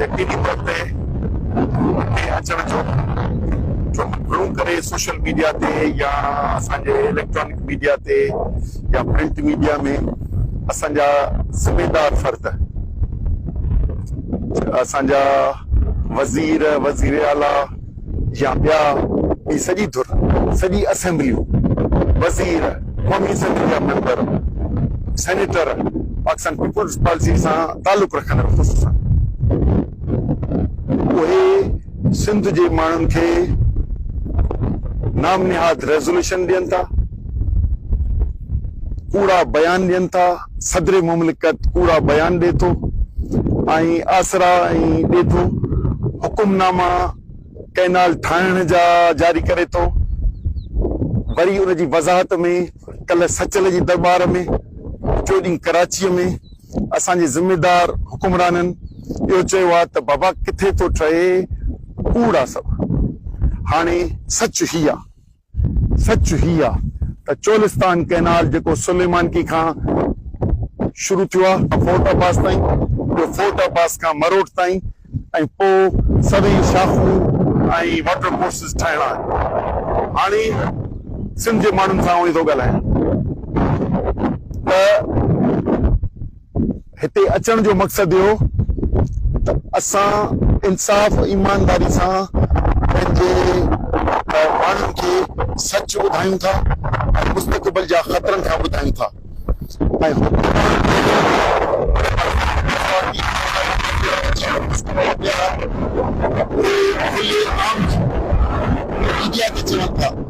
يقيني طور تي اڳتي اچڻ جو ڇو گهڻو ڪري سوشل ميڊيا تي يا اسان جي اليڪٽرانڪ ميڊيا تي يا پرنٽ ميڊيا ۾ اسان جا ذميدار فرد اسان جا وزير وزير اعليٰ يا ٻيا ٻي سڄي ڌر، سڄي اسيمبليون، وزير، قومي اسيمبلي جا ميمبر، سينيٽر پاڪستان پيپلز پارٽي سان تعلق رکندڙ خصوصا اهي سنڌ جي ماڻهن کي نام نهاد ريزوليوشن ڏين ٿا، ڪوڙا بيان ڏين ٿا. صدر مملڪت ڪوڙا بيان ڏي ٿو ۽ آسرا ۽ ڏي ٿو، حڪم ناما ڪئنال ٺاهڻ جا جاري ڪري ٿو، وري ان جي وضاحت ۾ ڪلهه سچل جي درٻار ۾ ٽيون ڏينهن ڪراچيء ۾ اسان جي ذميدار حڪمرانن اهو چيو ها ته بابا ڪٿي ٿو ٺهي ڪوڙ آ سڀ هاڻي سچ هي آ. سچ هي آ ته چولستان ڪئنال جيڪو سليمانڪي کان شروع ٿيو آ فورٽ عباس تائين ٻيو فورٽ عباس کان مروٽ تائين ۽ پو سوين شاخون ۽ واٽر ڪورسز ٺاهڻا آهن هاڻي سنڌ جي ماڻهن سان اوهين ٿو ڳالهايان ته هتي اچڻ جو مقصد اهو ته اسان انصاف ايمانداري سان پنهنجي ماڻهن کي سچ ٻڌايون ٿا ۽ مستقبل جا خطرن کان ٻڌايون ٿا ۽ حڪمران اهي خلي عام ميڊيا تي چون ٿا